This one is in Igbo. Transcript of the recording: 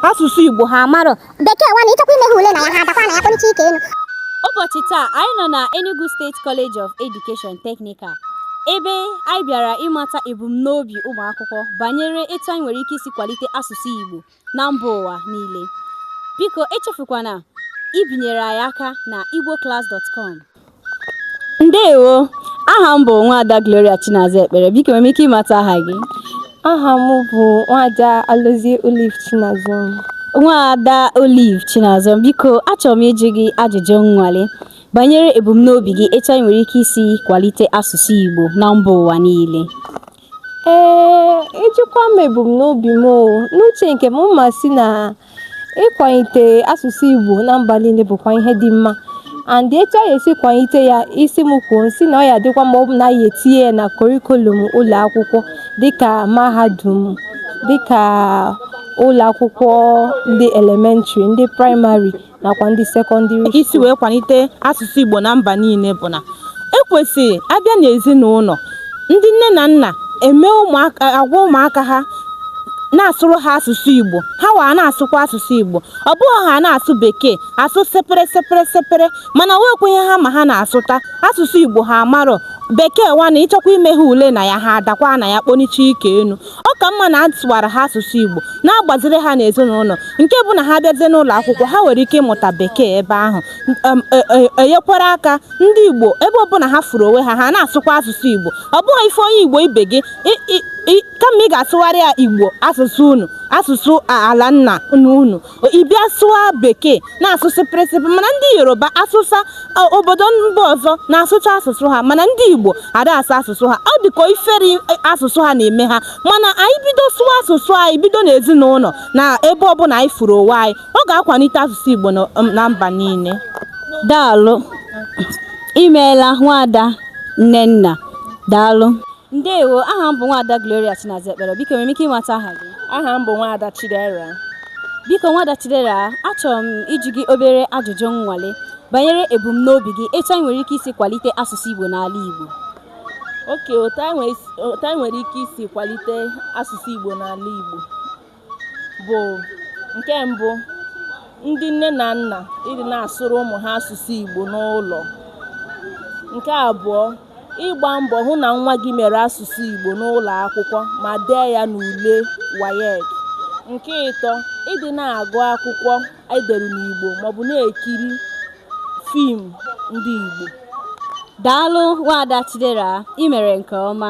asụsụ Igbo ha amarọ bekee nwanụ ịchọkwa ime ha ule na ya ha adakwa na ya kpọnicha ike enu ụbọchị taa anyị nọ na Enugu State College of Education Technical ebe anyị bịara ịmata ebumnobi ụmụ akwụkwọ banyere etu anyị nwere ike isi kwalite asụsụ Igbo na mba ụwa niile biko echefukwana ibinyere anyị aka na igboclass.com ndewo aha m bụ nwaada Gloria Chinaza Ekpere biko nwere m ike ịmata aha gị aha m bụ nwaada Alozie Olive Chinazom nwaada Olive Chinazom biko achọrọ m ịjụ gị ajụjụ nnwale banyere ebumnobi gị etu anyị nwere ike isi kwalite asụsụ Igbo na mba ụwa niile Ee, ị jụkwa m ebumnobi m o. N'uche nke m, m ma-asị na ịkwalite asụsụ Igbo na mba niile bụkwa ihe dị mma. And etu a ga-esi kwalite ya, ị sị m kwuo m sị na ọ ya-adịkwa mma ọ bụ na a ya-etinye ya na kọrikulum ụlọ akwụkwọ dịka mahadum, dịka ụlọ akwụkwọ ndị elementrị, ndị praịmarị nakwa ndị sekọndịrị isi wee kwalite asụsụ Igbo na mba niile bụ na e kwesịrị a bịa n'ezinụlọ ndị nne na nna eme ụmụaka agwa ụmụaka ha na-asụrụ ha asụsụ Igbo ha wa na-asụkwa asụsụ Igbo ọ bụghị ha na-asụ bekee asụ supri supri supri mana nwekwa ihe ha ma ha na-asụta asụsụ Igbo ha amarọ bekee nwanụ ịchọkwa ime ha ule na ya ha adakwa na ya kpọnicha ike enu Ọ ka mma na a sụwara ha asụsụ Igbo, na-agbaziri ha n'ezinụlọ, nke bụ na ha bịazie n'ụlọ akwụkwọ, ha nwere ike ịmụta Bekee ebe ahụ, um, e, e, enyekwara aka ndị Igbo ebe ọbụla ha furu onwe ha, ha na-asụkwa asụsụ Igbo. Ọ bụghị ị fụ onye Igbo ibe gị kama ị ga-asụwara ya Igbo asụsụ unu, asụsụ ala nna unu. ị bịa sụwa bekee na-asụ supri supri mana ndị yoruba awụsa o, obodo mba ọzọ na-asụcha asụsụ ha mana ndị igbo ada asụ asụsụ ha ọ dịka ifere asụsụ ha na-eme ha mana anyị bido sụwa asụsụ anyị bido n'ezinụlọ na ebe ọbụla anyị furu onwe anyị ọ ga-akwalite asụsụ igbo na na mba niile daalụ imeela nwaada nnenna daalụ Ndewo, aha m bụ Nwaada Gloria Chinaza Ekpere. Biko enwere m ike ịmata aha gị? Aha m bụ Nwaada Chidera. Biko Nwaada Chidera, achọrọ m ịjụ gị obere ajụjụ nnwale banyere ebumnobi gị etu anyị nwere ike isi kwalite asụsụ Igbo n'ala Igbo. Oke, otu anyị nwere ike isi kwalite asụsụ Igbo n'ala Igbo. bụ nke mbụ ndị nne na nna ịdị na-asụrụ ụmụ ha asụsụ Igbo n'ụlọ nke abụọ ịgba mbọ hụ na nwa gị mere asụsụ Igbo n'ụlọ akwụkwọ ma dee ya n'ule WAEC nke ịtọ ịdị na-agụ akwụkwọ edere n'Igbo maọbụ na-ekiri fim ndị Igbo daalụ nwaada Chidera ị mere nke ọma